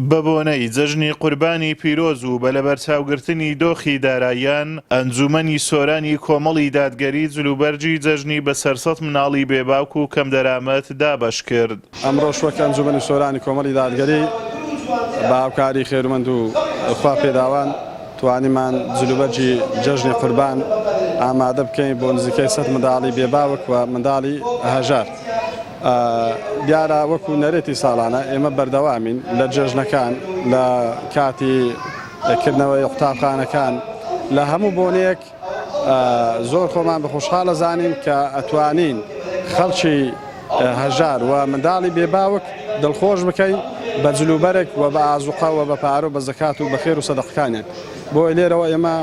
بەبۆنەی جەژنی قوربانی پیرۆز و بە لەبەرچاوگرتنی دۆخی داراییان، ئەنجوومەنی سۆرانی کۆمەڵی دادگەری جلوبەرگی جەژنی بە سەر سەد مناڵی بێباک و کەمدەرامەت دابەش کرد. ئەمڕۆش وەک ئەنجوومەنی سۆرانی کۆمەڵی دادگەری بە هاوکاری خێرومەند و خوا پێداوان توانیمان جلوبەرگی جەژنی قوربان ئامادە بکەین بۆ نزیکەی سەد منداڵی بێباوک و منداڵی هەژار. دیارە وەکو نەرێتی ساڵانە ئێمە بەردەوامین لە جێژنەکان لە کاتی کردنەوەی قوتابخانەکان لە هەموو بۆنێک زۆر خۆمان بەخۆشحاڵە زانین کە ئەتوانین خەڵکی هەژار و منداڵی بێباوک دڵخۆش بکەین بە جلوبەرێک و بە ئازوقەوە بە پارە و بە زکات و بەخێر و سەدەقەکانێک بۆی لێرەوە ئێمە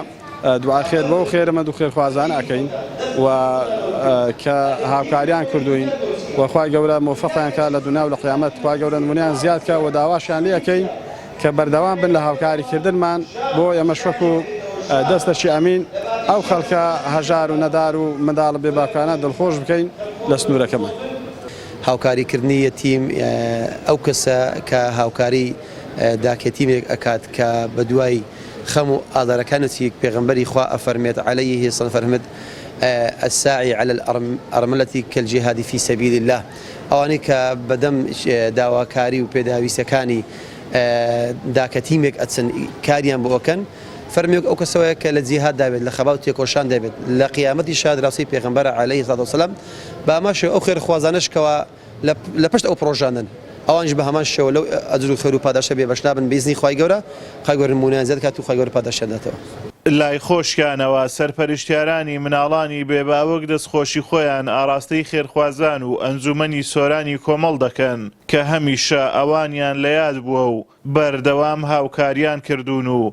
دوعای خێر بەو خێرمەند و خێرخوازانە ئەکەین و کە هاوکاریان کردوین و خوای گەورە مۆفەقیان کا لە دنیا و لە قیامەت خوای گەورە نمونیان زیاد کا و داواشیان لێ ئەکەین کە بەردەوام بن لە هاوکاری کردنمان بۆ ئێمە شوەک و دەستەکی ئەمین ئەو خەڵکە هەژار و نەدار و منداڵە بێ باکانە دڵخۆش بکەین لە سنوورەکەمان. هاوکاریکردنی یەتیم ئەو کەسە کە هاوکاری داکیەتیمێک ئەکات کە بەدوای خەم و ئازارەکانتی پێغەمبەری خوا ئەفەرمێت، علیه السلام، فەرمت، الساعی علی الارملە کالجهاد فی سبیل اللە، ئەوانەی کە بەدەم داواکاری و پێداویستەکانی دا کە تیمێک ئەچن کاریان بۆ ئەکەن، فەرموێک ئەو کەسە وایە کە لە جیهاد دابێت لە خەبات و تێکۆشان دابێت لە قیامەتیشا دراوسێی پێغەمبەرە علیه السلام، بە ئەمە شێوە ئەو خێرخوازانەش کەوا. لە پشت ئەو پڕۆژانەن ئەوانیش بە هەمان شێوە لەو ئەجر و خێر و پاداشتە بێ بەش نابن بە ئیزنی خوای گەورە، خوای گەورە نموونەیان زیاد دەکات و خوای گەورە پاداشتیان دەداتەوە. لای خۆشیانەوە سەرپەرشتیارانی مناڵانی بێ باوک دەستخۆشی خۆیان ئاڕاستەی خێرخوازان و ئەنجومەنی سۆرانی کۆمەڵ دەکەن کە هەمیشە ئەوانیان لە یاد بووە و بەردەوام هاوکاریان کردوون و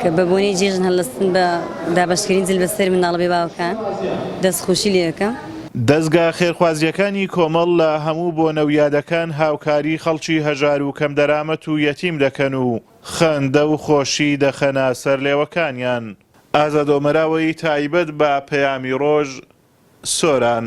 کە بە بۆنەی جێژن هەلستن بە دابەشکرین جل بە سەر منداڵە بێ باوەکان دەست خۆشی لێ ئەکەم. دەزگا خێرخوازیەکانی کۆمەڵ لە هەموو بۆنە و یادەکان هاوکاری خەڵکی هەژار و کەم دەرامەت و یەتیم دەکەن و خەندە و خۆشی دەخەنە سەر لێوەکانیان. ئازادۆمەراوەی تایبەت بە پەیامی ڕۆژ سۆران.